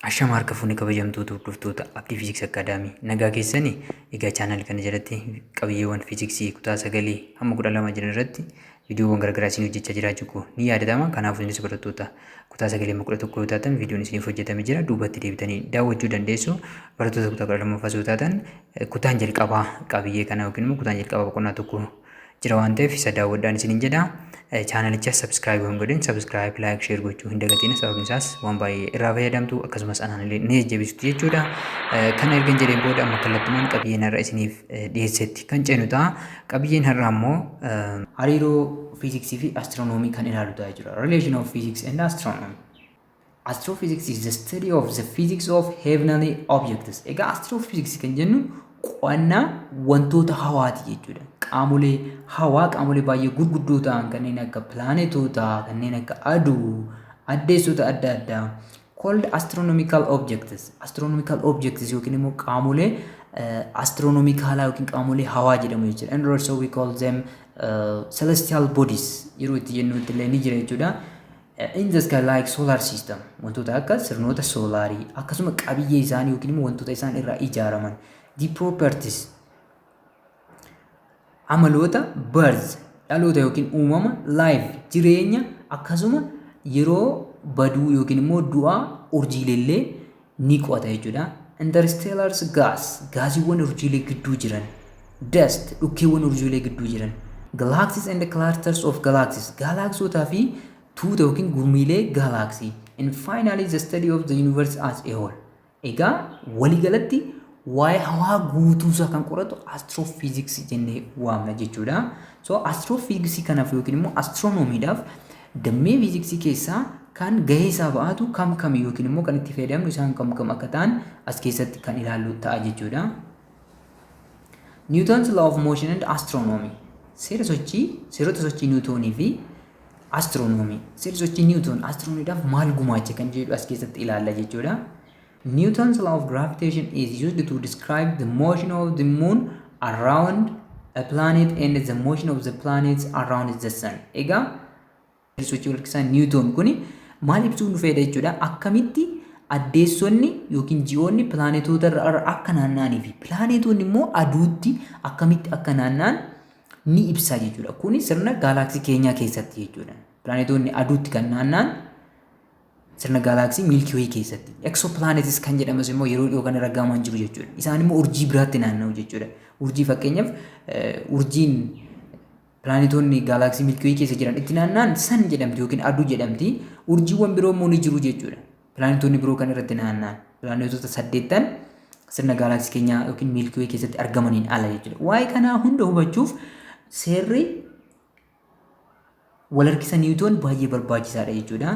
Ashama harka fuunee kabajamtoota hordoftoota Abdii Fiiziks Akaadaamii nagaa keessanii egaa chaanal kana jalatti qabiyyeewwan fiiziksii kutaa sagalii hamma kudha lama jiran irratti viidiyoowwan garaagaraa isin hojjechaa jiraachuu koo ni yaadatama kanaaf isinis barattoota kutaa sagalii hamma kudha tokko yoo taatan viidiyoon isiniif hojjetame jira duubatti deebitanii daawwachuu dandeessu barattoota kutaa kudha lammaffaa yoo taatan kutaan jalqabaa qabiyyee kana yookiin immoo kutaan jalqabaa boqonnaa tokko jira waan ta'eef isa daawwadhaan isiniin jedha. Chaanalichas subscribe hin godhin subscribe like share gochuu hin dagatina sababni isaas waan baay'ee irraa fayyadamtu akkasumas anaan illee ni jajjabeessitu jechuudha. Kana ergan jedheen booda amma kallattumaan qabiyyeen har'a isiniif dhiyeessetti kan ceenu ta'a. Qabiyyeen har'aa immoo hariiroo fiiziksii fi astiroonoomii kan ilaalu ta'a jechuudha. Relation of physics and astronomy. Astrophysics is the study of the physics of heavenly objects. Egaa astrophysics kan jennu qo'annaa wantoota hawaati jechuudha. Qaamolee hawaa qaamolee baay'ee gurguddoo ta'an kanneen akka pilaanetoota, kanneen akka aduu, addeessota adda addaa called astronomical objects. Astronomical objects yookiin immoo qaamolee astronomikaalaa yookiin qaamolee hawaa jedhamu jechuudha. And also we call them uh, celestial bodies yeroo itti jennutti illee ni jira jechuudha. In the sky like solar system wantoota akka sirnoota soolaarii akkasuma qabiyyee isaanii yookiin immoo wantoota isaan irraa ijaaraman the properties amaloota birth dhaloota yookiin uumama life jireenya akkasuma yeroo baduu yookiin immoo du'aa urjiileellee ni qo'ata jechuudha. Interstellars gas gaasiiwwan urjiilee gidduu jiran. Dust dhukkeewwan urjiilee gidduu jiran. Galaxies and clusters of galaxies gaalaaksootaa fi tuuta yookiin gurmiilee gaalaaksii. And finally the study of the universe as a whole. Egaa waliigalatti waa'ee hawaa guutuusaa kan qoratu astiroofiiziksii jennee waamna jechuudha. So astiroofiiziksii kanaaf yookiin immoo astiroonomiidhaaf Dammee fiiziksii keessaa kan gahee isaa ba'aatu kam kami yookiin immoo kan itti fayyadamnu isaan kam kam akka ta'an as keessatti kan ilaallu ta'a jechuudha. Newton's law of motion and astronomy seera sochii seerota sochii Niwutoonii fi astronomy seera sochii Niwutoon astronomiidhaaf maal gumaache kan jedhu as keessatti ilaalla jechuudha. Newton's law of gravitation is used to describe the motion of the moon around a planet and the motion of the planets around the sun. Egaa sochii walakkisaa Niwutoon kun maal ibsuun dhufeedha jechuudha. Akkamitti addeessonni yookiin ji'oonni pilaanetoota irra akka naanna'anii fi pilaanetoonni immoo aduutti akkamitti akka naanna'an ni ibsa jechuudha. Kuni sirna gaalaaksii keenyaa keessatti jechuudha. Pilaanetoonni aduutti kan naanna'an Sirna gaalaaksii Milky Way keessatti. Exoplanets kan jedhamas immoo yeroo dhiyoo kana raggaamaan jiru jechuudha. Isaan immoo urjii biraatti naanna'u jechuudha. Urjii fakkeenyaaf urjiin pilaanetoonni gaalaaksii Milky Way keessa jiran itti naanna'an san jedhamti yookiin aduu jedhamti. Urjiiwwan biroo immoo ni jiru jechuudha. Pilaanetoonni biroo kan irratti naanna'an pilaanetoota saddeettan sirna gaalaaksii keenyaa yookiin Milky Way keessatti argamaniin ala jechuudha. Waa'ee kanaa hunda hubachuuf seerri wal harkisa Newton baay'ee barbaachisaadha jechuudha.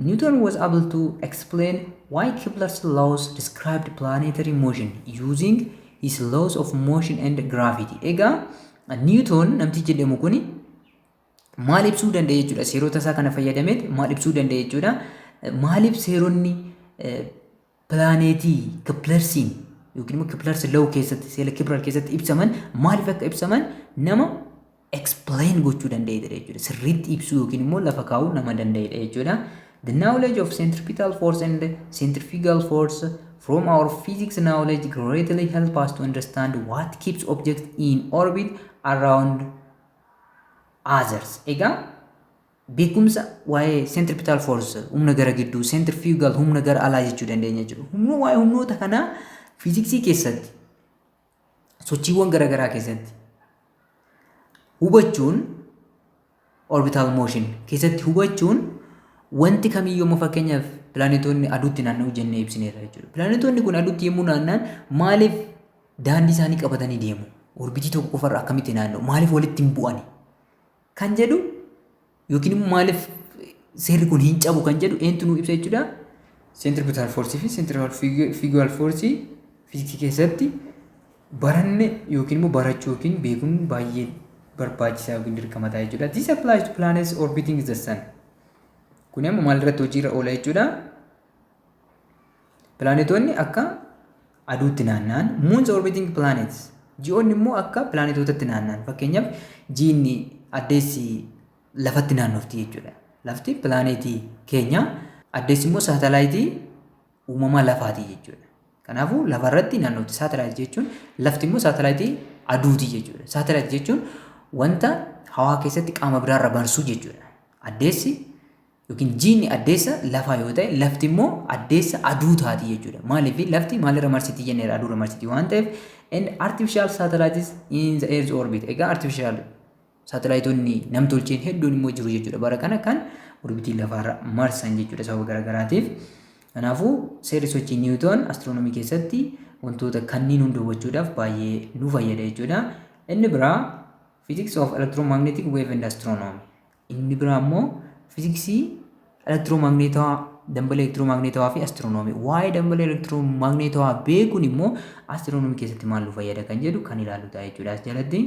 Newton was able to explain why Kepler's laws described planetary motion using his laws of motion and gravity. Egaa Newton namtichi jedhamu kuni maal ibsuu danda'e jechuudha seerota isaa kana fayyadameet maal ibsuu danda'e jechuudha maaliif seeronni pilaaneetii kiplersiin yookiin immoo kiplersi law keessatti seela kibral keessatti ibsaman maaliif akka ibsaman nama explain gochuu danda'edha jechuudha. Sirriitti ibsuu yookiin immoo lafa kaa'uu nama danda'edha jechuudha. The knowledge of centripetal force and centrifugal force from our physics knowledge greatly help us to understand what keeps objects in orbit around others. Egaa Beekumsa waa'ee centripetal force humna gara gidduu centrifugal humna gara alaa jechuu dandeenya jechuudha. Humna waa'ee humnoota kanaa fiiziksii keessatti sochiiwwan garaagaraa keessatti hubachuun orbital motion keessatti hubachuun wanti kamiyyuu amma fakkeenyaaf pilaanetoonni aduutti naanna'u jennee ibsineerra jechuudha. Pilaanetoonni kun aduutti yommuu naanna'an maaliif daandii isaanii qabatanii deemu? Orbitii tokko qofarra akkamitti naanna'u? Maaliif walitti hin bu'ani? kan jedhu yookiin immoo maaliif seerri kun hin cabu kan jedhu eentu nuu ibsa jechuudha. Centripetal force fi centrifugal force fiiziksii keessatti baranne yookiin immoo barachuu yookiin beekuun baay'ee barbaachisaa yookiin dirqama ta'a jechuudha. This applies to planets orbiting the sun. Kun amma maalirratti hojiirra oola jechuudha. Pilaanetoonni akka aduutti naanna'an, moons orbiting planets, ji'oonni immoo akka pilaanetootatti naanna'an. Fakkeenyaaf jiinni addeessi lafatti naannofti jechuudha. Lafti pilaaneetii keenya, addeessi immoo saatalaayitii uumamaa lafaati jechuudha. Kanaafuu lafarratti naannofti saatalaayit jechuun lafti immoo saatalaayitii aduuti jechuudha. Saatalaayit jechuun wanta hawaa keessatti qaama biraarra barsuu jechuudha. Addeessi yookiin jiinni addeessa lafaa yoo ta'e lafti immoo addeessa aduu taati jechuudha. Maaliif lafti maalirra marsiti jenneera aduurra marsiti waan ta'eef and artificial satellites in the earth orbit egaa artificial saatalaayitoonni namtolcheen hedduun immoo jiru jechuudha bara kana kan orbitii lafaarra marsan jechuudha sababa garaagaraatiif. Kanaafuu seerri sochii Niwutoon astiroonomii keessatti wantoota kanniin hunda hubachuudhaaf baay'ee nu fayyada jechuudha. Inni biraa Physics of Electromagnetic Wave and Astronomy Inni biraa immoo fiiziksii elektiroomagneetawaa dambalee elektiroomagneetawaa fi astiroonoomii. Waa'ee dambalee elektiroomagneetawaa beekuun immoo astiroonoomii keessatti maal nu fayyada kan jedhu kan ilaallu ta'a jechuudha as jalatti.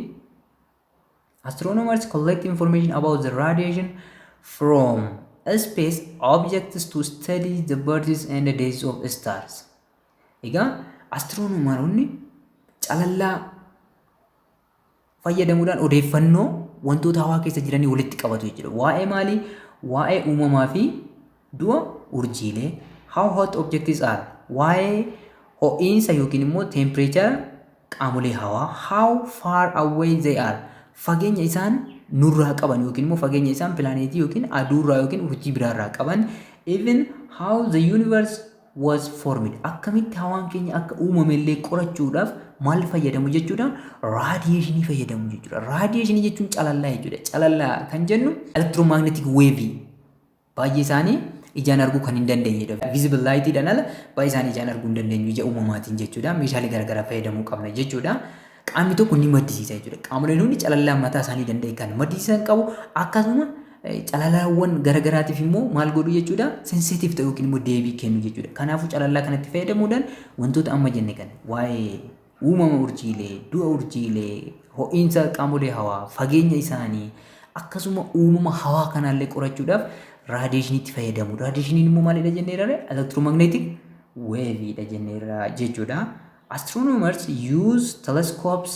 Astronomers collect information about the radiation from space objects to study the births and the deaths of stars. Egaa astiroonomaroonni calallaa fayyadamuudhaan odeeffannoo wantoota hawaa keessa jiranii walitti qabatu jechuudha. Waa'ee maalii? Waa'ee uumamaa fi du'a urjiilee. How hot objects are? Waa'ee ho'iinsa yookiin immoo teempireechara qaamolee hawaa. How far away they are? Fageenya isaan nurraa qaban yookiin immoo fageenya isaan pilaaneetii yookiin aduurraa yookiin urjii biraarraa qaban. Even how the universe was formed akkamitti hawaan keenya akka uumame illee qorachuudhaaf maal fayyadamu jechuudha raadiyeeshinii fayyadamu jechuudha raadiyeeshinii jechuun calallaa jechuudha calallaa kan jennu elektiroomagneetik weevii baay'ee isaanii ijaan arguu kan hin dandeenyedha visible light dhaan ala baay'ee isaanii ijaan arguu hin dandeenyu ija uumamaatiin jechuudha meeshaalee garaagaraa fayyadamuu qabna jechuudha qaamni tokko ni maddisiisa jechuudha qaamoleen hundi calallaa mataa isaanii danda'e kan maddisiisan qabu akkasuma Calalaawwan gara garaatiif immoo maal godhu jechuudha? Sensitive ta'u yookiin immoo deebii kennu jechuudha. Kanaafuu calalaa kanatti fayyadamuudhaan wantoota amma jenne kana waa'ee uumama urjiilee, du'a urjiilee, ho'iinsa qaamolee hawaa, fageenya isaanii akkasuma uumama hawaa kanaallee qorachuudhaaf raadiyeeshiniitti fayyadamu. Raadiyeeshiniin immoo maalidha jenneerra? Elektiromagneetik weeviidha jenneerra jechuudha. Astronomers use telescopes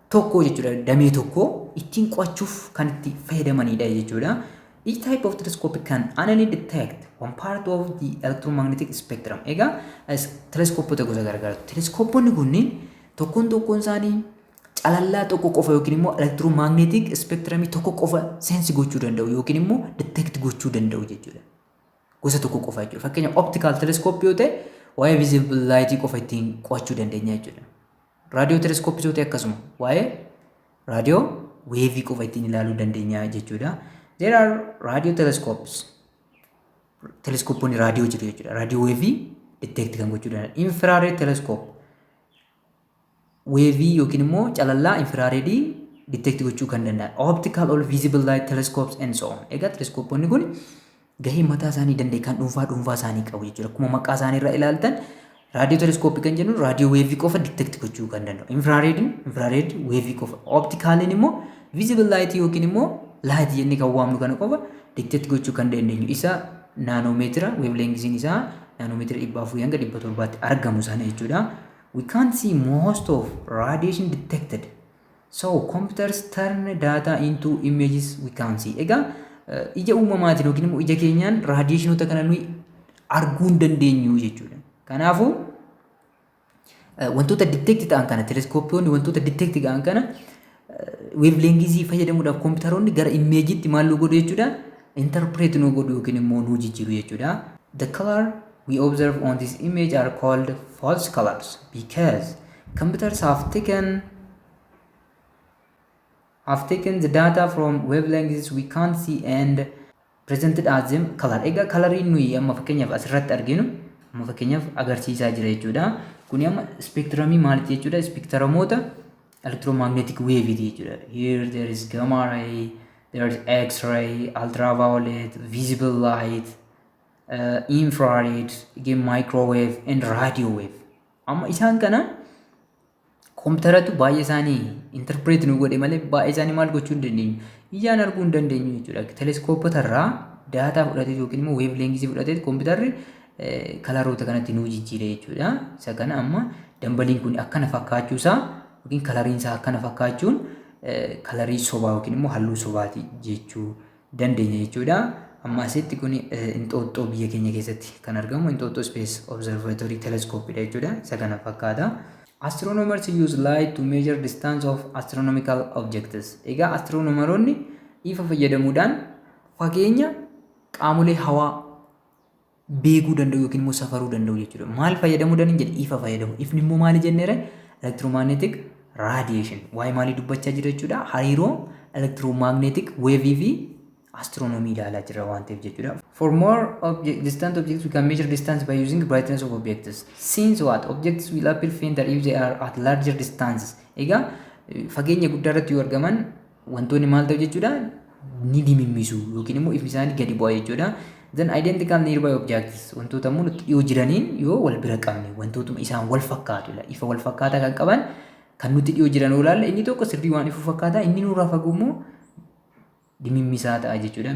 tokkoo jechuudha damee tokkoo ittiin qo'achuuf kan itti fayyadamaniidha jechuudha. Each type of telescope can only detect one part of the electromagnetic spectrum. Egaa teleskoopota gosa garaagaraatu. Teleskooponni kunniin tokkoon tokkoon isaanii calallaa tokko qofa yookiin immoo elektiroomagneetik ispeektiramii tokko qofa seensi gochuu danda'u yookiin immoo detect gochuu danda'u jechuudha. Gosa tokko qofa jechuudha. Fakkeenyaaf optical telescope yoo ta'e waa'ee visible light qofa ittiin qo'achuu dandeenya jechuudha. Raadiyoo teleskooppisooti akkasuma waa'ee raadiyoo weevii qofa ittiin ilaaluu dandeenya jechuudha. There are radio telescopes. Teleskooppoonni raadiyoo jiru jechuudha. Raadiyoo weevii detect kan gochuu danda'an. Infrared telescope. Weevii yookiin immoo calallaa infiraareedii detect gochuu kan danda'an. Optical or visible light telescopes and so on. Egaa teleskooppoonni kun gahee mataa isaanii danda'e kan dhuunfaa dhuunfaa isaanii qabu jechuudha. Akkuma maqaa isaanii irraa ilaaltan raadiyoo teleskooppii kan jennu raadiyoo weevii qofa detect gochuu kan danda'u. Infraareediin infraareed weevii qofa. Optikaaliin immoo visible light yookiin immoo light jennee kan waamnu kana qofa detect gochuu kan dandeenyu. Isa naanoomeetira weevleengisiin isaa naanoomeetira dhibba afurii hanga dhibba torbaatti argamu sana jechuudha. We can't see most of radiation detected So computers turn data into images we can see. Egaa ija uumamaatiin yookiin immoo ija keenyaan raadiyeeshinoota kana nuyi arguu hin dandeenyu jechuudha. Kanaafuu wantoota detect ta'an kana teleskooppiyoonni wantoota detect ta'an kana weevleengizii fayyadamuudhaaf kompiitaroonni gara imeejiitti maal nu godhu jechuudha interpret nu godhu yookiin immoo nu jijjiiru jechuudha. The color we observe on this image are called false colors because Computers have taken have taken the data from wavelengths we can't see and presented as them color. Egaa kalariin nuyi amma fakkeenyaaf asirratti arginu amma fakkeenyaaf agarsiisaa jira jechuudha. Kuni amma speektiramii maaliti jechuudha? Speektiramoota electromagnetic wave jechuudha. Here there is gamma ray, there is x-ray, ultraviolet, visible light, uh, infrared, again microwave and radio wave. Amma isaan kana kompitaratu baay'ee isaanii interpret nu godhe malee baay'ee isaanii maal gochuu hin dandeenyu. Ijaan arguu hin dandeenyu jechuudha. Teleskoopota irraa daataa fudhatee yookiin immoo weev leengisii fudhatee kompitarri kalaroota kanatti nuu jijjiire jechuudha. Isa kana amma dambaliin kun akkana fakkaachuu isaa yookiin kalariin isaa akkana fakkaachuun kalarii sobaa yookiin immoo halluu sobaati jechuu dandeenya jechuudha. Amma asitti kun Inxooxxoo biyya keenya keessatti kan argamu Inxooxxoo Space Observatory Telescope dha jechuudha. Isa kana fakkaata. Astronomers use light to measure distance of astronomical objects. Egaa astiroonomaroonni ifa fayyadamuudhaan fageenya qaamolee hawaa beekuu danda'u yookiin immoo safaruu danda'u jechuudha. Maal fayyadamuu danda'u jedhe ifa fayyadamu. Ifni immoo maali jenneera? Elektiroomagneetik raadiyeeshin. Waa'ee maalii dubbachaa jira jechuudha? Hariiroo elektiroomagneetik weevii fi astiroonomii ilaalaa jira waan ta'eef jechuudha. For more object, distant objects, we can measure distance by using brightness of objects. Since what? Objects will appear fainter if they are at larger distances. Egaa fageenya guddaa irratti yoo argaman wantoonni maal ta'u jechuudha ni dimimmisu yookiin immoo ifni isaanii gadi bu'a jechuudha. Then identical nearby objects wantoota immoo nutti dhiyoo jiraniin yoo wal bira qabne wantootuma isaan wal fakkaatu ila ifa wal fakkaataa kan qaban kan nutti dhiyoo jiran yoo ilaalle inni tokko sirrii waan ifu fakkaata inni nurraa fagoo immoo dimimmisaa ta'a jechuudha.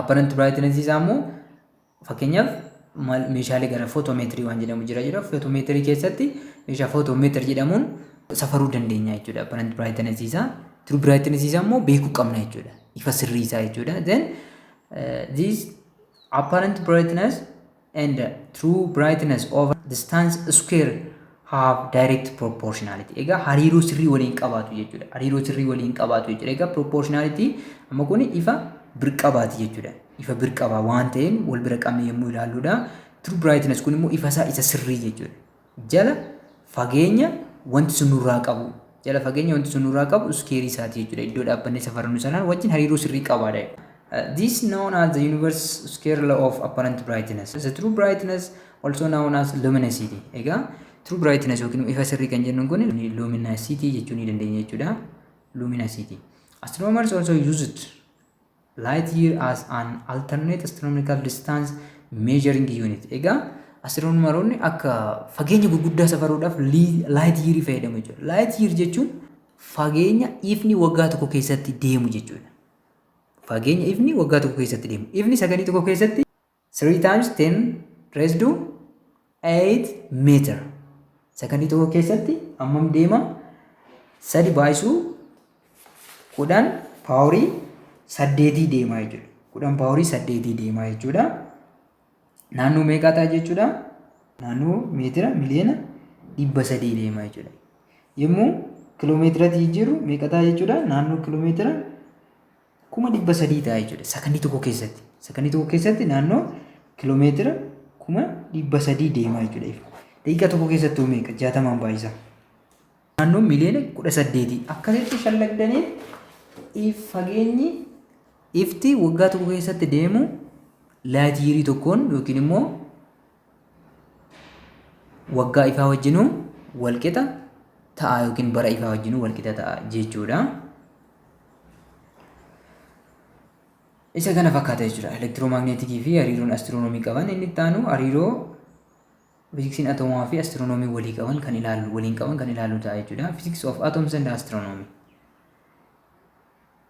Apparent brightness isaa immoo fakkeenyaaf maal meeshaalee gara footomeetirii waan jedhamu jira jira footomeetirii keessatti meeshaa footomeetir jedhamuun safaruu dandeenya jechuudha apparent brightness isaa true brightness isaa immoo beekuu qabna jechuudha ifa sirrii isaa jechuudha then uh, this apparent brightness and true brightness over distance square have direct proportionality. Egaa hariiroo sirrii waliin qabaatu jechuudha. Hariiroo sirrii waliin qabaatu jechuudha. Egaa proportionality amma kun ifa birqabaati jechuudha. Ifa birqabaa waan ta'een wal bira qabnee yommuu ilaalluudha. True brightness kun immoo ifa isaa isa sirrii jechuudha. jala fageenya wanti sun nurraa qabu jala fageenya wanti sun nurraa qabu iskeerii isaati jechuudha. Iddoo dhaabbannee safarannu sanaan wajjin hariiroo sirrii qabaadha. This is known as the universe square law of apparent brightness. The true brightness also known as luminosity. Egaa true brightness yookiin ifa sirrii kan jennuun kun luminosity jechuu ni dandeenya jechuudha. Luminosity. Astronomers also use it Light year as an alternate astronomical distance measuring unit. Egaa astiroonomaroonni akka fageenya gurguddaa safaruudhaaf light year fayyadamu jechuudha. Light year jechuun fageenya ifni waggaa tokko keessatti deemu jechuudha. Fageenya ifni waggaa tokko keessatti deemu. Ifni sakandii tokko keessatti 3 times 10 raised to 8 meter. Sakandii tokko keessatti hammam deema? Sadi baay'isuu kudhan paaworii saddeetii deemaa jechuudha. Kudhan paaworii saddeetii deemaa jechuudha. Naannoo meeqaa ta'a jechuudha? Naannoo meetira miliyoona dhibba sadii deemaa jechuudha. Yommuu kiloomeetiratti jijjiirru meeqa ta'a jechuudha? Naannoo kiloomeetira kuma 300 ta'a jechuudha sakandii tokko keessatti. Sakandii tokko keessatti naannoo kilomeetira kuma 300 deemaa jechuudha ifa. Daqiiqaa tokko keessatti meeqa? 60 baay'isa. Naannoo miliyoona 18 akkasitti shallagdanii if fageenyi ifti waggaa tokko keessatti deemu laatiirii tokkoon yookiin immoo waggaa ifaa wajjinuu walqixa ta'a yookiin bara ifaa wajjinuu walqixa ta'a jechuudha. Isa kana fakkaata jechuudha. Elektiroomagneetikii fi hariiroon astiroonoomii qaban inni itti aanu hariiroo fiziksiin atoomaa fi astiroonoomii walii qaban kan ilaalu waliin qaban kan ilaalu ta'a jechuudha. Physics of atoms and astronomy.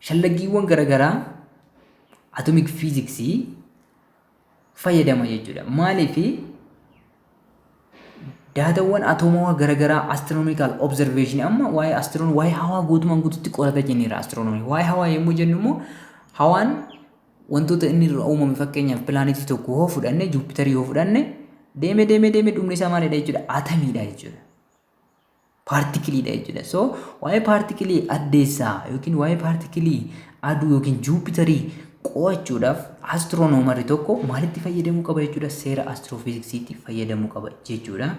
Shallaggiiwwan gara garaa atomic physics fayyadama jechuudha. Maaliif daatawwan atoomawaa gara garaa astronomical observation amma waa'ee astronomy waa'ee hawaa guutumaan guututti qorata jenneera astronomy. Waa'ee hawaa yommuu jennu immoo hawaan wantoota inni irraa uumame fakkeenyaaf pilaanetii tokko yoo fudhanne Juupitarii yoo fudhanne deeme deeme deeme dhumni isaa maalidha jechuudha atamiidha jechuudha. paartikiliidha jechuudha. So waa'ee paartikilii addeessaa yookiin waa'ee paartikilii aduu yookiin juupitarii qo'achuudhaaf astiroonoomari tokko maalitti fayyadamuu qaba jechuudha seera astiroofiziksiitti fayyadamuu qaba jechuudha.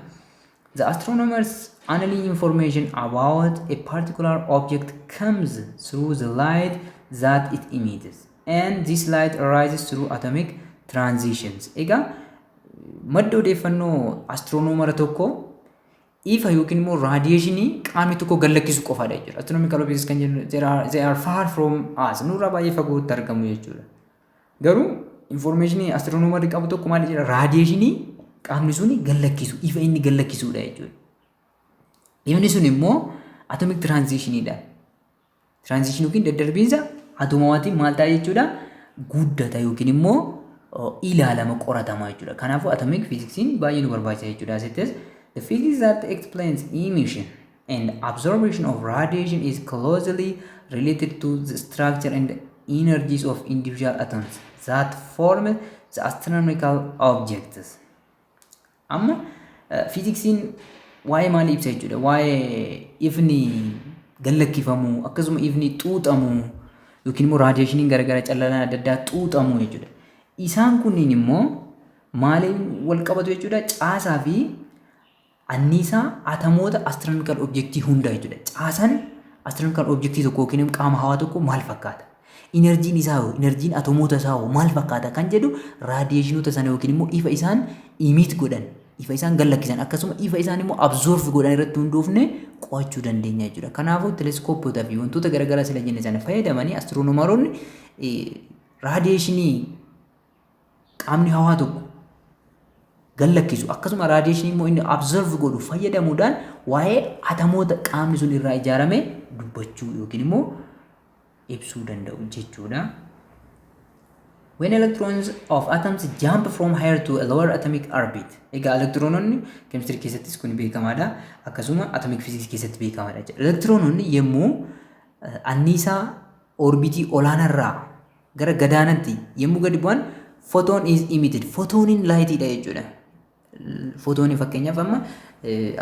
The astronomers analyze information about a particular object comes through the light that it emits and this light arises through atomic transitions. Egaa Madda odeeffannoo astiroonoomara tokko ifa yookiin immoo raadiyeeshinii qaamni tokko gallakkisu qofaadha jechuudha. Astronomical objects kan jennu there are- they are far from us nurraa baay'ee fagootti argamu jechuudha. Garuu infoormeeshinii astiroonoomari qabu tokko maal jedha raadiyeeshinii qaamni suni gallakkisu ifa inni gallakkisudha jechuudha. Ifni sun immoo atomic transitionidha. Tiraanzishin yookiin daddarbiinsa atoomawaatiin maal ta'a jechuudha? Guddata yookiin immoo ilaalama qoratama jechuudha. Kanaafuu atomic physics'n baay'ee nu barbaachisa jechuudha. Asittis the physics that explains emission and absorption of radiation is closely related to the structure and energies of individual atoms that form the astronomical objects. Amma fiiziksiin waa'ee maalii ibsa jechuudha? Waa'ee ifni gallakkifamuu akkasuma ifni xuuxamuu yookiin immoo raadiyeeshiniin garaagaraa callalaan adda addaa xuuxamuu jechuudha. Isaan kunniin immoo maaliin wal qabatu jechuudha? Caasaa fi anniisaa atamoota astronomical objectii hundaa jechuudha. Caasaan astronomical objectii tokko yookiin qaama hawaa tokko maal fakkaata? Inarjiin isaa hoo, inarjiin atomoota isaa hoo maal fakkaata kan jedhu raadiyeeshinoota sana yookiin immoo ifa isaan imiit godhan, ifa isaan gallakkisan akkasuma ifa isaan immoo absoorf godhan irratti hundoofne qo'achuu dandeenya jechuudha. Kanaafuu teleskoopota fi wantoota garaagaraa sila jenne sana fayyadamanii astiroonomaroonni raadiyeeshinii qaamni hawaa tokko gallakkisu akkasuma raadiyeeshinii immoo inni absorb godhu fayyadamuudhaan waa'ee atamoota qaamni sun irraa ijaarame dubbachuu yookiin immoo ibsuu danda'u jechuudha. When electrons of atoms jump from higher to a lower atomic orbit. Egaa elektiroononni keemistirii keessattis kun beekamaadha. Akkasuma atomic physics keessatti beekamaadha jechuudha. Elektiroononni yommuu anniisaa orbitii olaanarraa gara gadaanatti yommuu gadi bu'an photon is emitted. Photooniin laayitiidha jechuudha. Footooni fakkeenyaaf amma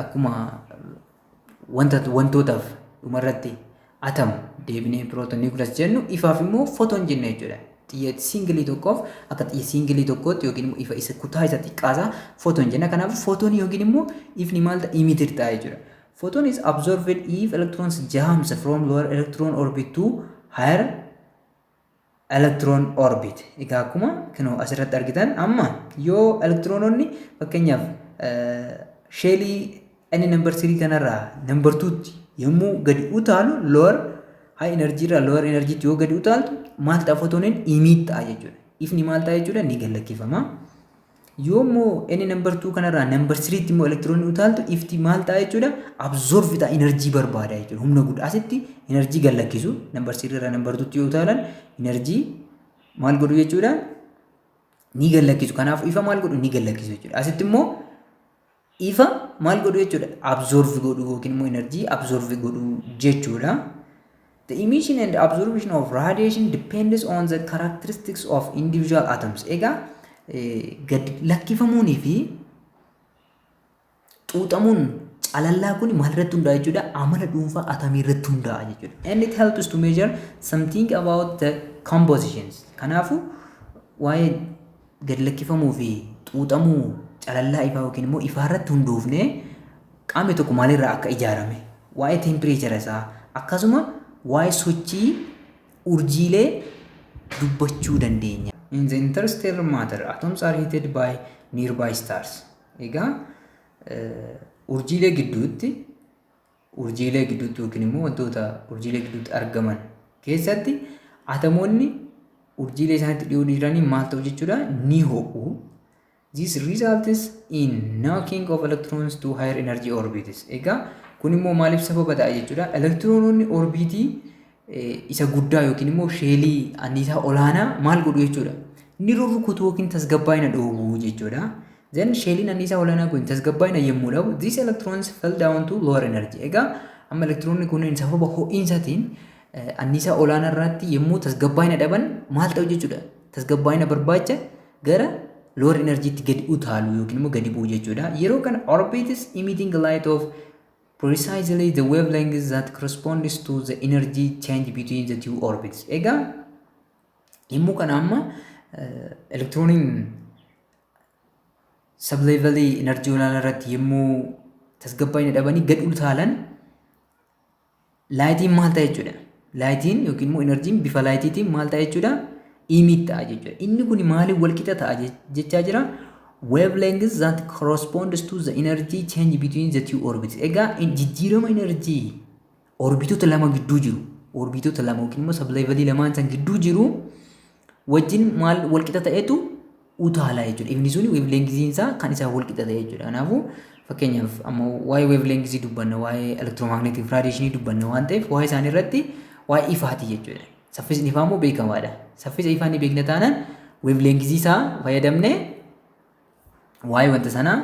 akkuma wanta wantootaaf dhumarratti atam deebinee pirooton niwukilas jennu ifaaf immoo footoon jenna jechuudha. Xiyya siingilii tokkoof akka xiyya siingilii tokkootti yookiin immoo ifa isa kutaa isa xiqqaasaa footoon jenna. Kanaaf footoonii yookiin immoo ifni maal ta'a imitir ta'a jechuudha. Photon is absorbed if electrons jams from lower electron orbit to higher electron orbit. Egaa akkuma kinoo asirratti argitan amma yoo elektiroononni fakkeenyaaf sheelii inni number 3 kanarraa number 2tti yommuu gadi utaalu lower high energy irraa lower energy yoo gadi utaaltu maal ta'a footoniin imiit ta'a jechuudha. Ifni maal ta'a jechuudha ni gad lakkifama. Yoo immoo n number 2 kanarraa number 3 tti immoo elektiroonni utaaltu ifti maal ta'a jechuudha absorb ta'a enerjii barbaada jechuudha humna guddaa asitti enerjii gad lakkisu number 3 irraa number 2 tti yoo utaalan enerjii maal godhu jechuudha ni gad lakkisu kanaaf ifa maal godhu ni gad lakkisu jechuudha asitti immoo Ifa maal godhu jechuudha? Absorb godhu yookiin immoo energy absorb godhu jechuudha. The emission and absorption of radiation depends on the characteristics of individual atoms. Egaa gad lakkifamuunii fi xuuxamuun calallaa kun maal irratti hundaa'a jechuudha? Amala dhuunfaa atamii irratti hundaa'a jechuudha. And it helps to measure something about the compositions. Kanaafuu waa'ee gad lakkifamuu fi xuuxamuu calallaa ifaa yookiin immoo ifaa irratti hundoofne qaamni tokko maalirraa akka ijaarame waa'ee teempireechara isaa akkasuma waa'ee sochii urjiilee dubbachuu dandeenya. In the interstellar matter, atoms are heated by nearby stars. Egaa urjiilee gidduutti Urjiilee gidduutti yookiin immoo wantoota urjiilee gidduutti argaman keessatti atomoonni urjiilee isaanitti dhiyoo jiranii maal ta'u jechuudha ni ho'u. This results in knocking of electrons to higher energy orbits. Egaa kun immoo maaliif sababa ta'a jechuudha elektiroononni orbiitii isa guddaa yookiin immoo sheelii anniisaa olaanaa maal godhu jechuudha. Inni rurrukutu yookiin tasgabbaa'ina dhoobu jechuudha. Then sheeliin anniisaa olaanaa kun tasgabbaa'ina yommuu dhabu these electrons fell down to lower energy. Egaa amma elektiroonni kunneen sababa ho'iinsaatiin anniisaa olaanaa irratti yommuu tasgabbaa'ina dhaban maal ta'u jechuudha. Tasgabbaa'ina barbaacha gara lower energy itti gadi utaalu yookiin immoo gadi bu'u jechuudha. Yeroo kana orbits emitting light of Precisely the wavelength that corresponds to the energy change between the two orbits. Egaa yommuu kana amma elektirooniin sableevalii enerjii olaanaa irratti yommuu tasgabbaa'ina dhabanii gad utaalan Laayitiin maal ta'a jechuudha? Laayitiin yookiin immoo inarjiin bifa laayitiitiin maal ta'a jechuudha? Imiit ta'a jechuudha. Inni kun maaliin wal qixa ta'a jechaa jira? Wavelength that corresponds to the energy change between the two orbits. Egaa jijjiirama inarjii orbitoota lama gidduu jiru. Orbitoota lama yookiin immoo sableevalii lamaan san gidduu jiru. wajjin maal walqixa ta'etu utaala jechuudha. Ifni sun weevleengiziin isaa kan isaa walqixa ta'e jechuudha. Kanaafuu fakkeenyaaf amma waa'ee weevleengizii dubbanna, waa'ee elektiroomagneetik raadiyeeshinii dubbanna waan ta'eef waa'ee isaanii irratti waa'ee ifaati jechuudha. Saffisni ifaa immoo beekamaadha. Saffisa ifaa ni beekna taanaan weevleengizii isaa fayyadamnee waa'ee wanta sanaa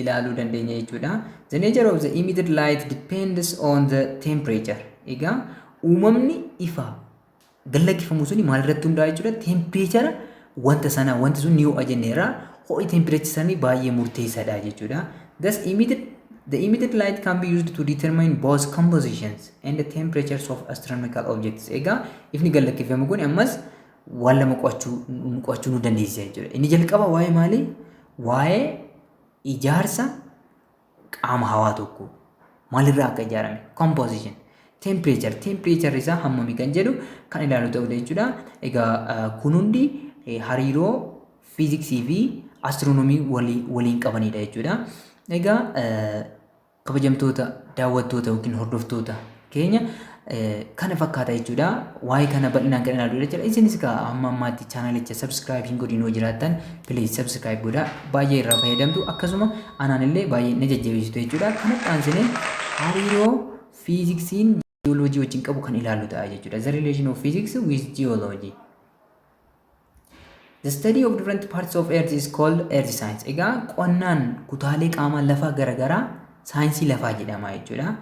ilaaluu dandeenya jechuudha. The nature of the emitted light depends on the temperature. Egaa uumamni ifaa gallakkifamu suni maalirratti hundaa'a jechuudha tempireechara wanta sanaa wanti sun ni ho'a jenneerra ho'i tempireechi samii baay'ee murteessaadha jechuudha. Thus emitted the emitted light can be used to determine both compositions and the temperatures of astronomical objects. Egaa ifni gallakkifamu kun ammas waan lama qo'achuu qo'achuu nu dandeessisa jechuudha. Inni jalqaba waa'ee maalii? Waa'ee ijaarsa qaama hawaa tokko maalirraa akka ijaarame composition temperature temperature isaa hammami kan jedhu kan ilaalu ta'uu jechuudha. Egaa kun hundi hariiroo fiiziksii fi astiroonomii waliin qabanidha jechuudha. Egaa kabajamtoota daawwattoota yookiin hordoftoota keenya kana fakkaata jechuudha. Waa'ee kana bal'inaan kan ilaaludha jechuudha. Isinis egaa amma ammaatti chaanalicha subscribe hin godhin yoo jiraattan please subscribe godhaa. Baay'ee irraa fayyadamtu akkasuma anaan illee baay'ee na jajjabeessitu jechuudha. Kana dhaansinee hariiroo fiiziksiin jiyooloojii wajjin qabu kan ilaallu ta'a jechuudha. The relation of physics with geology. The study of different parts of earth is called earth science. Egaa qonnaan kutaalee qaamaa lafaa garaagaraa saayinsii lafaa jedhama jechuudha.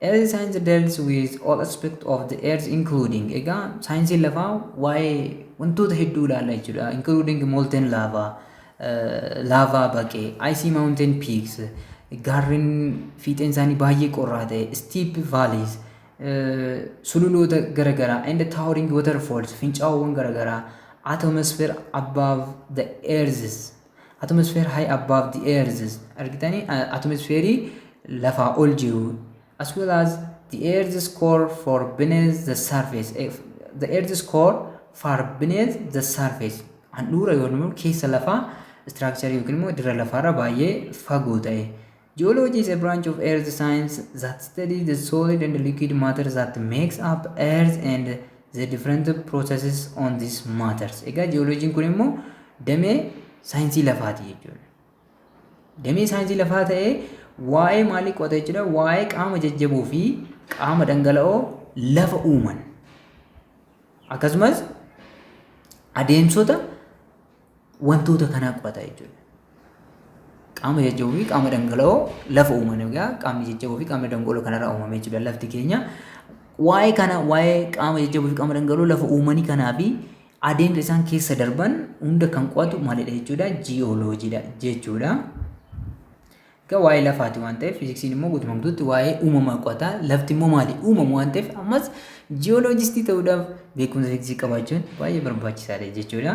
Earth science deals with all aspects of the earth including egaa saayinsiin lafaa waa'ee wantoota hedduu ilaalla jechuudha. Including molten lava, laavaa baqee, icy mountain peaks, gaarreen fiixeen isaanii baay'ee qorraa ta'e, steep valleys, sululoota garagaraa and towering waterfalls fincaawwan garagaraa atmosphere above the earths atmosphere high above the earths argitanii atmospherii lafaa ol jiru as well as the earth's core for beneath the surface eh, the earth's core far beneath the surface handhuura yookiin immoo keessa lafaa istiraakcharii yookiin immoo dirra lafaarra baay'ee fagoo ta'e Geology is a branch of earth science that studies the solid and liquid matter that makes up earth and the different processes on these matters. Egaa jiyooloojiin kun immoo damee saayinsii lafaati jechuudha. Damee saayinsii lafaa ta'ee waa'ee maalii qo'ata jechuudha? Waa'ee qaama jajjaboo fi qaama dhangala'oo lafa uuman. Akkasumas adeemsota wantoota kanaa qorata jechuudha. Qaama jajjaboo fi qaama dhangala'oo lafa uuman egaa qaamni jajjaboo fi qaamni dhangala'oo kanarraa uumame jechuudha lafti keenya. Waa'ee kana waa'ee qaama jajjaboo fi qaama dhangala'oo lafa uumanii kanaa fi adeemsa isaan keessa darban hunda kan qo'atu maalidha jechuudha jiyooloojiidha jechuudha. Egaa waa'ee lafaati waan ta'eef fiiziksiin immoo guutummaa guutuutti waa'ee uumamaa qo'ata lafti immoo maali uumamu waan ta'eef ammas jiyooloojistii ta'uudhaaf beekumsa fiiziksii qabaachuun baay'ee barbaachisaadha jechuudha.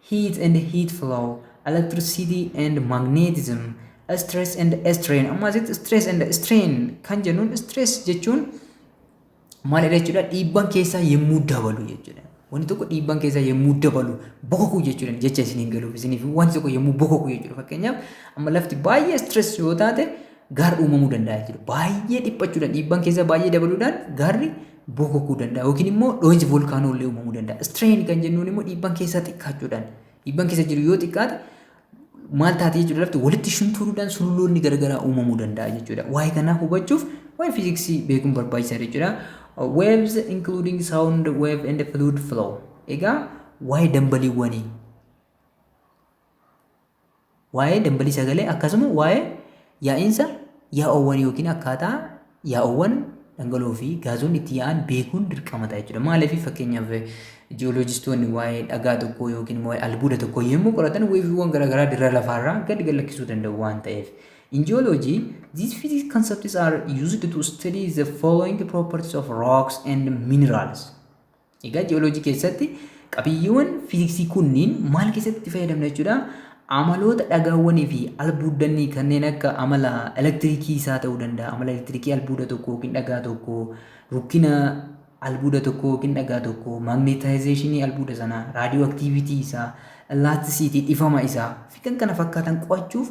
heat and heat flow, electricity and magnetism, stress and strain. Amma asitti stress and strain kan jennuun stress jechuun maalidha jechuudha dhiibban keessaa yemmuu dabalu jechuudha. Wanti tokko dhiibban keessaa yemmuu dabalu bokokuu jechuudha jecha isiniin galuuf isiniif wanti tokko yemmuu bokokuu jechuudha fakkeenyaaf amma lafti baay'ee stress yoo taate gaarri uumamuu danda'a jechuudha. Baay'ee dhiphachuudhaan dhiibbaan keessa baay'ee dabaluudhaan gaarri bookokuu danda'a yookiin immoo dhoohinsi voolkaanoo illee uumamuu danda'a. Strain kan jennuun immoo dhiibbaan keessaa xiqqaachuudhaan dhiibbaan keessa jiru yoo xiqqaate maal taate jechuudha lafti walitti shunturuudhaan sululloonni garagaraa uumamuu danda'a jechuudha. Waa'ee kanaa hubachuuf waa'ee fiiziksii beekuun barbaachisaadha jechuudha. Waves including sound wave and fluid flow. Egaa waa'ee dambaliiwwanii Waa'ee dambalii sagalee akkasuma waa'ee yaa'iinsa yaa'oowwan yookiin akkaataa yaa'oowwan dhangala'oo fi gaazonni itti yaa'an beekuun dirqama ta'a jechuudha. Maaliif fakkeenyaaf ji'ooloojistoonni waa'ee dhagaa tokkoo yookiin immoo waa'ee albuuda tokkoo yommuu qoratan weeviiwwan garaagaraa dirra lafaarraa gad gallakkisuu danda'u waan ta'eef. In geology, these physics concepts are used to study the following properties of rocks and minerals. Egaa ji'ooloojii keessatti qabiyyeewwan fiiziksii kunniin maal keessatti itti fayyadamna jechuudha? Amaloota dhagaawwanii fi albuuddannii kanneen akka amala elektirikii isaa ta'uu danda'a. Amala elektirikii albuuda tokko yookiin dhagaa tokko, rukkina albuuda tokko yookiin dhagaa tokko, maagneetaayizeeshinii albuuda sanaa, raadiyoo aktiivitii isaa, laatisiitii dhifama isaa fi kan kana fakkaatan qo'achuuf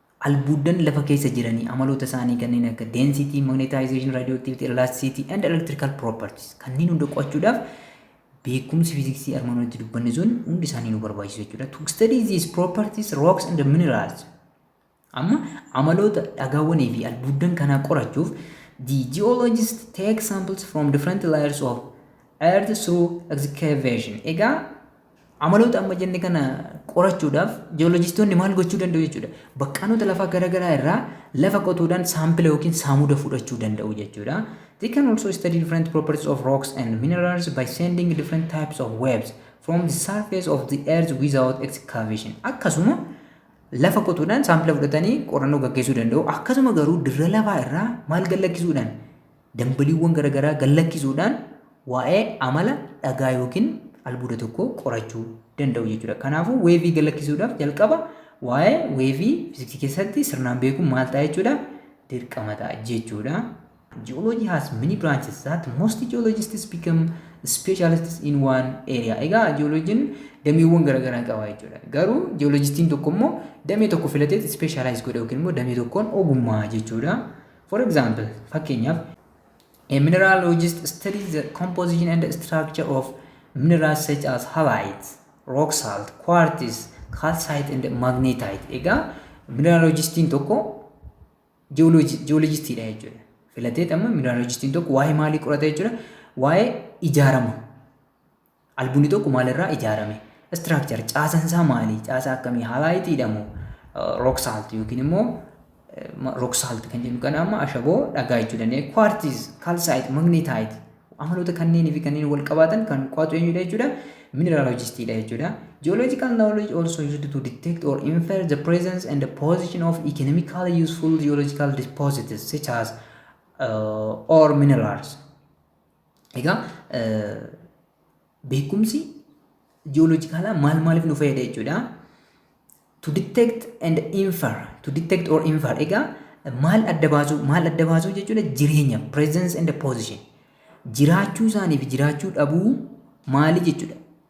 Albuuddan lafa keessa jiranii amaloota isaanii kanneen akka density, magnetization, radioactivity, elasticity, and electrical properties kanneen hunda qo'achuudhaaf beekumsi fiiziksii armaan olitti dubbanne sun hundi isaanii nu barbaachisu jechuudha. To study these properties, rocks and minerals. Amma amaloota dhagaawwanii fi albuuddan kanaa qorachuuf the geologist take samples from different layers of earth through excavation. Egaa Amaloota amma jenne kana qorachuudhaaf ji'oolojistoonni maal gochuu danda'u jechuudha. Baqqaanota lafaa garaagaraa irraa lafa qotuudhaan saampila yookiin saamuda fudhachuu danda'u jechuudha. They can also study different properties of rocks and minerals by sending different types of waves from the surface of the earth without excavation. Akkasuma lafa qotuudhaan saampila fudhatanii qorannoo gaggeessuu danda'u. Akkasuma garuu dirra lafaa irraa maal gallakkisuudhaan Dambaliiwwan garagaraa gad-lakkisuudhaan waa'ee amala dhagaa yookiin albuuda tokkoo qorachuu danda'u jechuudha. Kanaafuu weevii gad-lakkisuudhaaf jalqaba waa'ee weevii fiziksii keessatti sirnaan beekuun maal ta'a jechuudha? Dirqama ta'a jechuudha. Geology has many branches that most geologists become specialists in one area. Egaa geologiin dameewwan garagaraa qaba jechuudha. Garuu geologistiin tokko immoo damee tokko filatee specialize godha yookiin immoo damee tokkoon ogummaa jechuudha. For example, fakkeenyaaf, A mineralogist studies the composition and structure of minerals such as halite, rock salt, quartz, calcite and magnetite. Egaa mineralogistiin tokko ji'oolojistiidha jechuudha. Filatee amma mineralogistiin tokko waa'ee maalii qorata jechuudha? Waa'ee ijaarama Albunni tokko maalirraa ijaarame? Structure caasan isaa maali? Caasaa akkamii? Halaayitiidha moo? Rock salt yookiin immoo rock salt kan jennu kana amma ashaboo dhagaa jechuu dandeenya. Quartz, calcite, magnetite amaloota kanneenii fi kanneen wal qabaatan kan qo'atu eenyudha jechuudha? Mineralogistiidha jechuudha. Geological knowledge also used to detect or infer the presence and the position of economically useful geological deposits such as uh, or minerals. Egaa beekumsi ji'ooloojikaalaa maal maaliif nu fayyada jechuudha. To detect and infer, to detect or infer. Egaa maal adda baasuu, maal adda baasuu jechuudha jireenya, presence and position. Jiraachuu isaanii fi jiraachuu dhabuu maali jechuudha.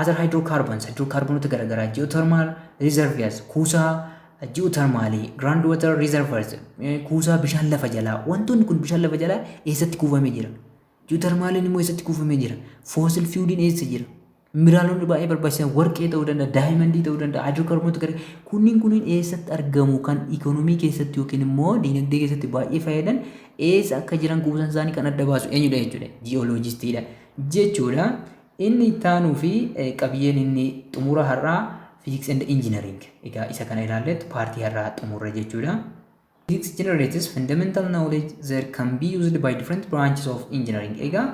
Other hydrocarbons hidrookaarboonota garaagaraa geothermal reservoirs kuusaa geothermaalii ground water reservoirs eh, kuusaa bishaan lafa jalaa wantoonni kun bishaan lafa jalaa eessatti kuufamee jira geothermaaliin immoo eessatti kuufamee jira fossil fueliin eessa jira mineraalonni baay'ee barbaachisan warqee ta'uu danda'a daayimandii ta'uu danda'a hidrookaarboonota gara kunniin kunniin eessatti argamu kan ikoonomii keessatti yookiin immoo diinagdee keessatti baay'ee fayyadan eessa akka jiran kuusan isaanii kan adda baasu eenyudha jechuudha ji'ooloojistiidha jechuudha. Inni itti aanuu fi qabiyyeen inni xumura har'aa Physics and Engineering. Egaa isa kana ilaalleetu paartii har'aa xumurre jechuudha. Physics generates fundamental knowledge that can be used by different branches of engineering. Egaa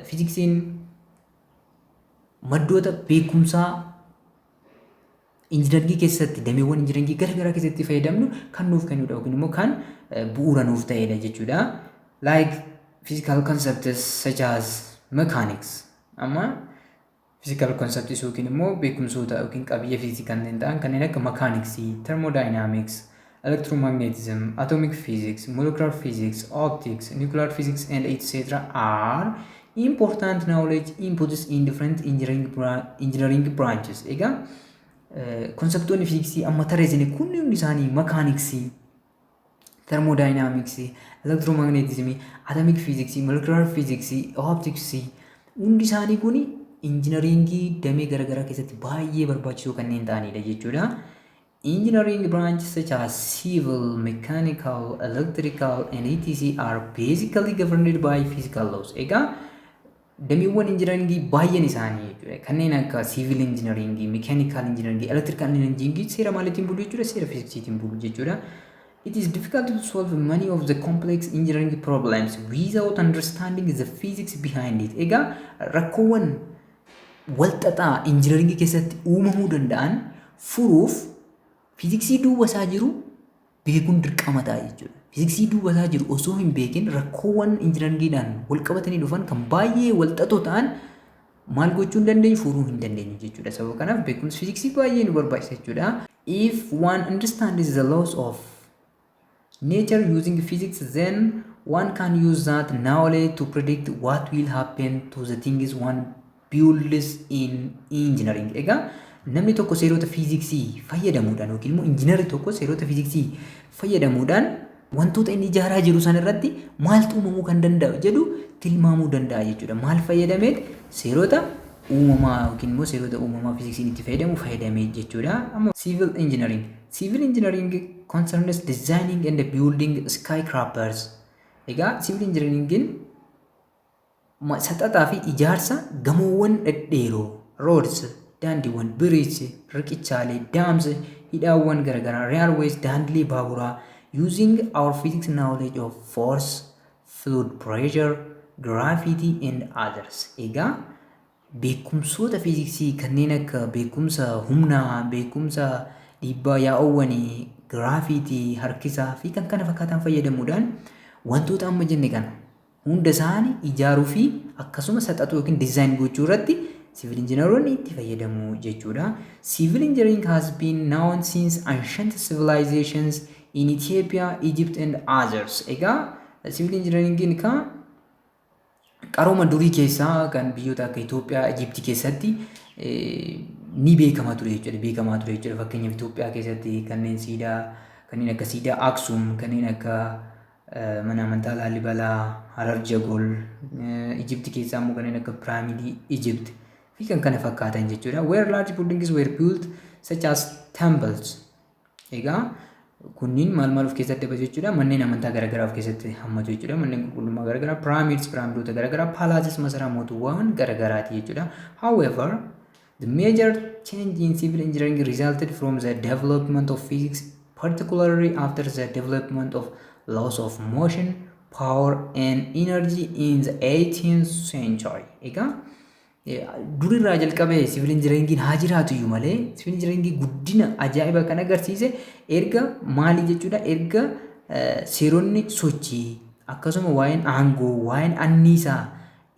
fiiziksiin maddoota beekumsaa Injinargii keessatti dameewwan injinargii gara garaa keessatti fayyadamnu kan nuuf kennudha yookiin immoo kan bu'uura nuuf ta'edha jechuudha. Like physical concepts such as mechanics. Amma physical concepts yookiin immoo beekumsoota yookiin qabiyyee fiiziksii kanneen ta'an kanneen akka mechanics, thermodynamics, electromagnetism, atomic physics, molecular physics, optics, nuclear physics, and etc. are important knowledge inputs in different engineering, bra- engineering branches. Egaa konseptoonni fiiziksii amma tarreessine kunniin isaanii makaaniksii, termodaayiinaamiksii, elektiroomagneetizimii, atomik fiiziksii, molekulaar fiiziksii, optiksii hundi isaanii kun injinariingii damee garaagaraa keessatti baay'ee barbaachisoo kanneen ta'anidha jechuudha. Engineering branches such as civil, mechanical, electrical, and etc. are basically governed by physical laws. Egaa dameewwan injinaringii baay'een isaanii jechuudha. Kanneen akka siivil injinaringii, mekaanikaal injinaringii, elektirikaal injinaringii seera maaliitiin bulu jechuudha? Seera fiiziksiitiin bulu jechuudha. It is difficult to solve many of the complex engineering problems without understanding the physics behind it. Egaa rakkoowwan walxaxaa injinaringii keessatti uumamuu danda'an furuuf fiiziksii duuba isaa jiru beekuun dirqama ta'a jechuudha. Fiiziksii duuba isaa jiru osoo hin beekin rakkoowwan injinaringiidhaan wal qabatanii dhufan kan baay'ee walxaxoo ta'an maal gochuu hin dandeenyu furuu hin dandeenyu jechuudha. Sababa kanaaf beekumsi fiiziksii baay'ee nu barbaachisa jechuudha. If one understands the laws of nature using physics then one can use that knowledge to predict what will happen to the things one builds in engineering egaa namni tokko seerota fiiziksii fayyadamuudhaan yookiin immoo injiinarri tokko seerota fiiziksii fayyadamuudhaan wantoota inni ijaaraa jiru san irratti maaltu uumamuu kan danda'u jedhu tilmaamuu danda'a jechuudha. Maal fayyadameet seerota uumamaa yookiin immoo seerota uumamaa fiiziksiin itti fayyadamu fayyadamee jechuudha. Amma siivil injiinariin Civil engineering concerns designing and building skyscrapers. Egaa civil engineeringin saxaxaa fi ijaarsa gamoowwan dhedheeroo, roads, daandiiwwan, bridges, riqichaalee, dams, hidhaawwan garaagaraa, railways, daandilee baaburaa, using our physics knowledge of force, fluid pressure, gravity and others. Egaa Beekumsoota fiiziksii kanneen akka beekumsa humnaa, beekumsa dhiibbaa yaa'oowwanii, giraafiitii, harkisaa fi kan kana fakkaatan fayyadamuudhaan wantoota amma jenne kana hunda isaanii ijaaruu fi akkasuma saxaxuu yookiin dizaayin gochuu irratti siivil injinaroonni itti fayyadamu jechuudha. Siivil injinariin has been known since ancient civilizations in Ethiopia, Egypt and others. Egaa siivil injinaringiin kan Qarooma durii keessaa kan biyyoota akka Itoophiyaa, Ijiptii keessatti ni beekama ture jechuudha. Beekamaa ture jechuudha. Fakkeenyaaf Itoophiyaa keessatti kanneen siidaa kanneen akka siidaa Aksum, kanneen akka mana amantaa Laalibalaa, Harar Jagol, Ijiptii keessaa immoo kanneen akka piraamidii Ijipt fi kan kana fakkaatan jechuudha. Where large buildings were built such as temples Egaa kunniin maal maal of keessatti dabalatu jechuudha manneen amantaa garaagaraa of keessatti hammatu jechuudha manneen qulqullummaa garaagaraa pyramids pyramidoota garaagaraa palaces masaraa mootummaawwan garaagaraati jechuudha however the major change in civil engineering resulted from the development of physics particularly after the development of laws of motion power and energy in the 18th century egaa Durirraa jalqabee siviil injinariingiin haa jiraatu iyyuu malee siviil injinariingii guddina ajaa'iba kan agarsiise erga maalii jechuudha erga seeronni sochii akkasuma waa'een aangoo waa'een anniisaa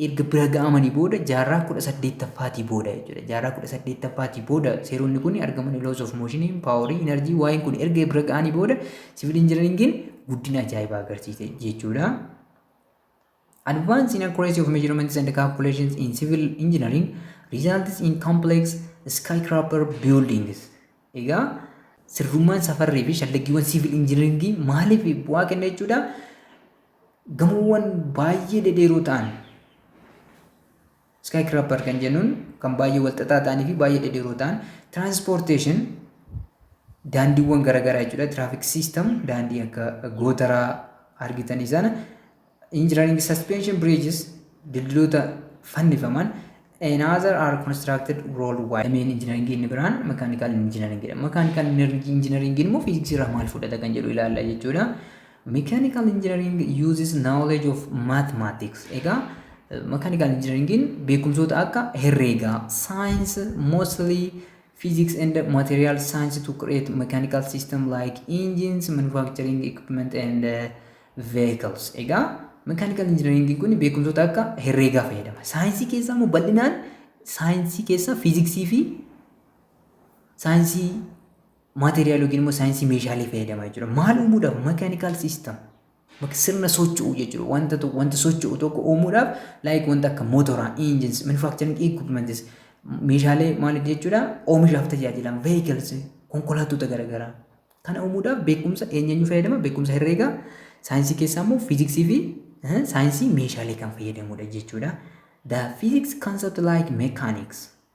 erga bira ga'amanii booda jaarraa kudha saddeettaffaatii booda jechuudha jaarraa kudha saddeettaffaatii booda seeronni kun argamanii laws of motion paaworii inarjii waa'een kun erga bira ga'anii booda siviil injinariingiin guddina ajaa'ibaa agarsiise jechuudha. Advanced in accuracy of measurements and calculations in civil engineering results in complex skyscraper buildings. Egaa sirrummaan safarrii fi shallaggiiwwan siivil injiniringii maaliif bu'aa kenna jechuudha. Gamoowwan baay'ee dhedheeroo ta'an Skyscraper kan jennuun kan baay'ee walxaxaa ta'anii fi baay'ee dhedheeroo ta'an transportation daandiiwwan garaagaraa jechuudha. Traffic system daandii akka gootaraa argitanii sana engineering suspension bridges dildiloota fannifaman and other are constructed worldwide. Dameen engineering inni biraan mechanical engineering dha. Mechanical engineering immoo fiiziksii irraa maal fudhata kan jedhu ilaalla jechuudha. Mechanical engineering uses knowledge of mathematics. Egaa mechanical engineeringin beekumsoota akka herreegaa, science mostly physics and material science to create mechanical system like engines, manufacturing equipment and uh, vehicles. Egaa mechanical engineering kun beekumsoota akka herreegaa fayyadama. Saayinsii keessaa immoo bal'inaan saayinsii keessaa fiiziksii fi saayinsii maateriyaal yookiin immoo saayinsii meeshaalee fayyadamaa jechuudha. Maal uumuudhaaf mechanical system bakka sirna socho'u jechuudha. Wanta tokko wanta socho'u tokko uumuudhaaf like wanta akka motoraa, engines, manufacturing equipments meeshaalee maal jechuudha oomishaaf tajaajilan vehicles konkolaattota garaagaraa kana uumuudhaaf beekumsa eenyuun fayyadama beekumsa herreegaa saayinsii keessaa immoo fiiziksii fi eh, saayinsii meeshaalee kan fayyadamudha jechuudha. The physics concept like mechanics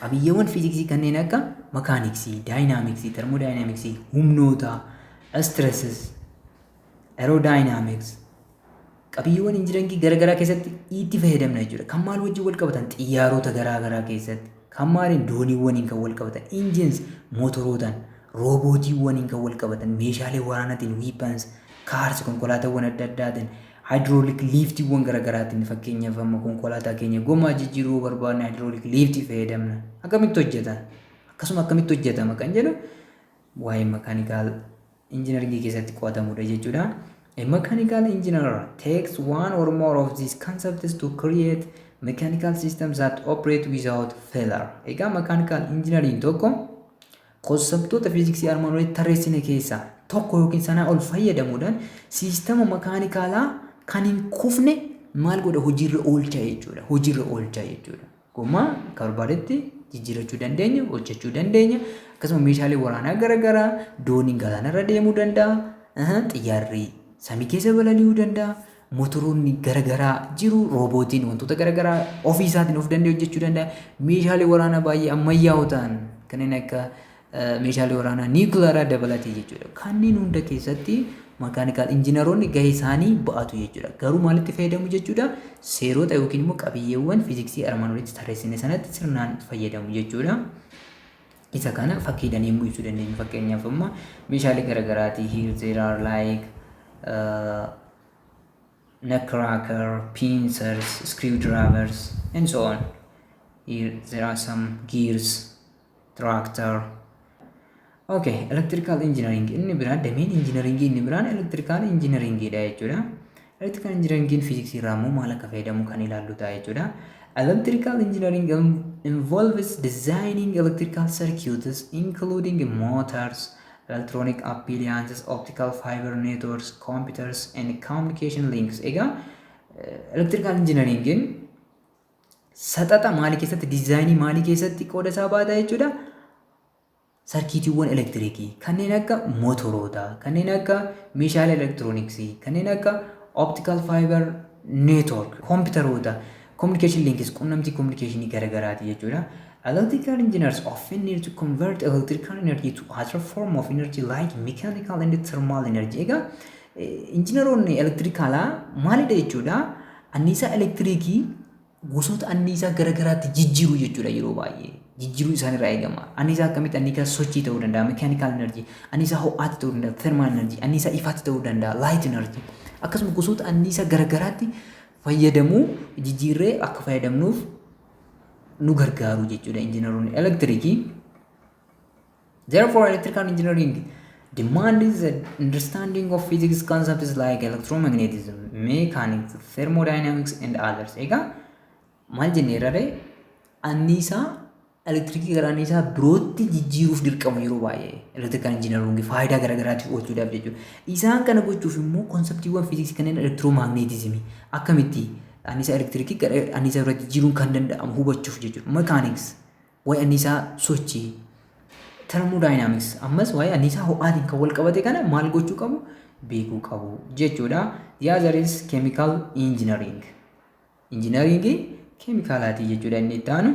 Qabiyyeewwan fiiziksii kanneen akka makaaniksii, daayinaamiksii, termoodaayinaamiksii, humnoota, stresses, aerodynamics, qabiyyeewwan injinangii garaagaraa keessatti itti fayyadamna jechuudha. Kan maal wajjin wal qabatan xiyyaarota garaagaraa keessatti, kan maaliin dooniiwwaniin kan wal qabatan, injins, mootorootaan, roobootiiwwaniin kan wal qabatan, meeshaalee waraanaatiin, weapons, kaars, konkolaataawwan adda addaatiin, Haayidiroolik liiftiiwwan gara garaatiin fakkeenyaaf amma konkolaataa keenya gomaa jijjiiruu yoo barbaadne haayidiroolik liiftii fayyadamna. Akkamitti hojjeta? Akkasuma akkamitti hojjetama kan jedhu waa'ee makaanikaal injinaringii keessatti qo'atamudha jechuudha. A mechanical engineer takes one or more of these concepts to create mechanical systems that operate without failure. Egaa mechanical engineering tokko Konseptoota fiiziksii armaan olitti tarreessine keessaa tokko yookiin sanaa ol fayyadamuudhaan siistama makaanikaalaa kan hin kufne maal godha hojiirra oolcha jechuudha. Hojiirra oolcha jechuudha. Gommaa akka barbaadetti jijjiirachuu dandeenya, hojjechuu dandeenya. Akkasuma meeshaalee waraanaa garaagaraa dooniin galaanarra deemuu danda'a. Xiyyaarri samii keessa balali'uu danda'a. motoroonni garagaraa jiru roobootiin wantoota garagaraa ofii isaatiin of danda'e hojjechuu danda'a meeshaalee waraanaa baay'ee ammayyaa'oo ta'an kanneen akka meeshaalee waraanaa niikuleeraa dabalatee jechuudha kanneen hunda keessatti makaanikaal injinaroonni gahee isaanii ba'atu jechuudha garuu maalitti fayyadamu jechuudha seerota yookiin immoo qabiyyeewwan fiiziksii armaan olitti tarreessine sanatti sirnaan fayyadamu jechuudha. Isa kana fakkiidhan yemmuu ibsuu dandeenyu fakkeenyaaf amma meeshaalee garagaraati here there are like uh, nutcracker, pincers, screwdrivers and so on. Here there are some gears, tractor. Okay, electrical engineering inni biraan dameen engineering inni biraan electrical engineering dha jechuudha. Electrical engineering physics irraa immoo maal akka fayyadamu kan ilaallu ta'a jechuudha. Electrical engineering involves designing electrical circuits including motors, electronic appliances, optical fiber networks, computers and communication links. Egaa electrical engineeringin saxaxa maalii keessatti diizaayinii maalii keessatti qooda isaa baata jechuudha. sarkiitiiwwan elektirikii kanneen akka mootoroota, kanneen akka meeshaalee elektirooniksii, kanneen akka optical fiber network, koompitaroota, communication links, qunnamtii communicationii garagaraati jechuudha. Electrical engineers often need to convert electrical energy to other form of energy like mechanical and thermal energy. Egaa injineroonni elektirikaalaa maalidha jechuudha? Anniisaa elektirikii gosoota anniisaa gara garaatti jijjiiru jechuudha yeroo baay'ee. Jijjiiruu isaan irraa eegama. Anniisaa akkamitti anniisaa sochii ta'uu danda'a, mechanical energy, anniisaa ho'aatti ta'uu danda'a, thermal energy, anniisaa ifaatti ta'uu danda'a, light energy. Akkasuma gosoota anniisaa gara garaatti fayyadamuu jijjiirree akka fayyadamnuuf nu gargaaru jechuudha injiinaroonni elektirikii. Therefore, electrical engineering demands the understanding of physics concepts like electromagnetism, mechanics, thermodynamics and others. Egaa maal jennee irraree anniisaa elektirikii gara anniisaa birootti jijjiiruuf dirqamu yeroo baay'ee elektirikal injinaroongi faayidaa garaagaraatiif oolchuudhaaf jechuudha. Isaan kana gochuuf immoo konseptiiwwan fiiziksii kanneen elektiroomaagneetizimii akkamitti anniisaa elektirikii gara anniisaa birootti jijjiiruun kan danda'amu hubachuuf jechuudha. Mekaaniks Waa'ee anniisaa sochii, thermodynamics, ammas waa'ee anniisaa ho'aatiin kan wal qabate kana maal gochuu qabu? Beekuu qabu jechuudha. The other is chemical engineering. Injinariingii keemikaalaatii jechuudha inni itti aanu.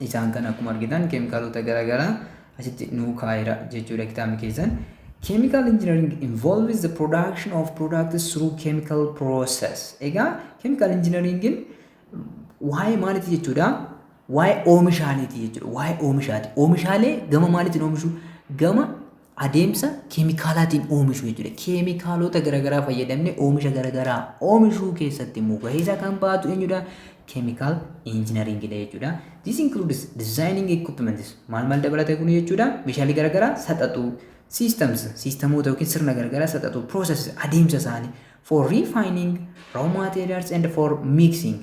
Isaan kan akkuma argitan keemikaalota garaagaraa asitti nuu kaa'eera jechuudha kitaabni keessan. Chemical engineering involves the production of products through chemical process. Egaa chemical engineeringin Waa'ee maaliiti jechuudha? Waa'ee oomishaaleeti jechuudha. Waa'ee oomishaati. Oomishaalee gama maaliitiin oomishu? Gama adeemsa keemikaalaatiin oomishu jechuudha. Keemikaalota garaagaraa fayyadamne oomisha garaagaraa oomishuu keessatti immoo gahee isaa kan ba'atu eenyudha? Keemikaal injinariingidha jechuudha. This includes designing equipments. Maal maal dabalata kun jechuudha? Meeshaalee garaagaraa saxaxuu, systems, siistamoota yookiin sirna garaagaraa saxaxuu, processes, adeemsa isaanii, For refining raw materials and for mixing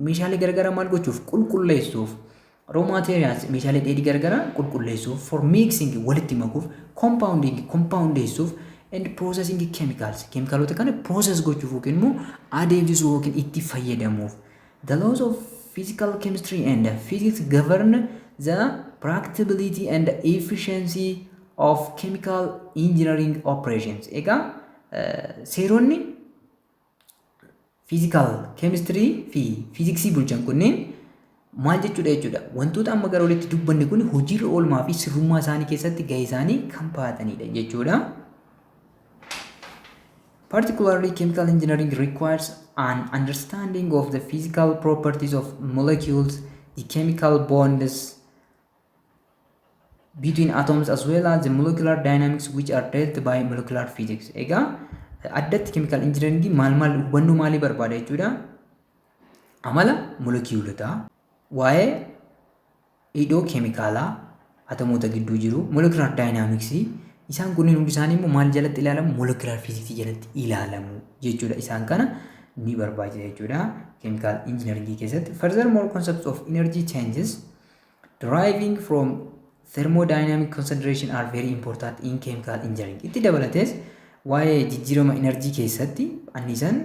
meeshaalee garagaraa maal gochuuf qulqulleessuuf raw materials meeshaalee dheedhii garagaraa qulqulleessuuf for mixing walitti makuuf compounding compoundeessuuf and processing chemicals keemikaalota kana process gochuuf yookiin immoo adeemsisuu yookiin itti fayyadamuuf the laws of physical chemistry and physics govern the practicability and efficiency of chemical engineering operations egaa Seeronni fiizikaal keemistirii fi fiiziksii bulchan kunneen maal jechuudha jechuudha. Wantoota amma gara olitti dubbanne kun hojiirra oolmaa fi sirrummaa isaanii keessatti gahee isaanii kan ba'atanidha jechuudha. Particularly chemical engineering requires an understanding of the physical properties of molecules, the chemical bonds, between atoms as well as the molecular dynamics which are dealt by molecular physics. Egaa addatti chemical engineering maal maal hubannoo maalii barbaada jechuudha. Amala molekiyuulotaa, waa'ee hidhoo keemikaalaa atomoota gidduu jiru, molecular dynamics isaan kunneen hundi isaanii immoo maal jalatti ilaalamu? Molecular physics jalatti ilaalamu jechuudha. Isaan kana ni barbaachisa jechuudha chemical engineering keessatti. Furthermore concepts of energy changes deriving from thermodynamic consideration are very important in chemical engineering. Itti dabalatees waa'ee jijjiirama enerjii keessatti anniisaan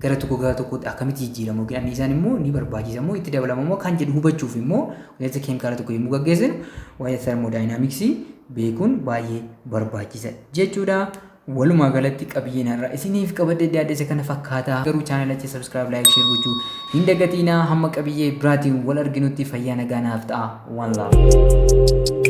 gara tokko gara tokkotti akkamitti jijjiiramu yookiin anniisaan immoo ni barbaachisa immoo itti dabalama immoo kan jedhu hubachuuf immoo ilaalcha keemikaala tokko yommuu gaggeessinu waa'ee thermodynamics beekuun baay'ee barbaachisa jechuudha. Walumaa galatti qabiyyeen har'a isiniif qabadhee dhiyaadhese kana fakkaata. Garuu chaanalachi subscribe, like, share gochuu hin dagatiinaa. Hamma qabiyyee biraatiin wal arginutti fayyaa nagaa naaf ta'a. One love.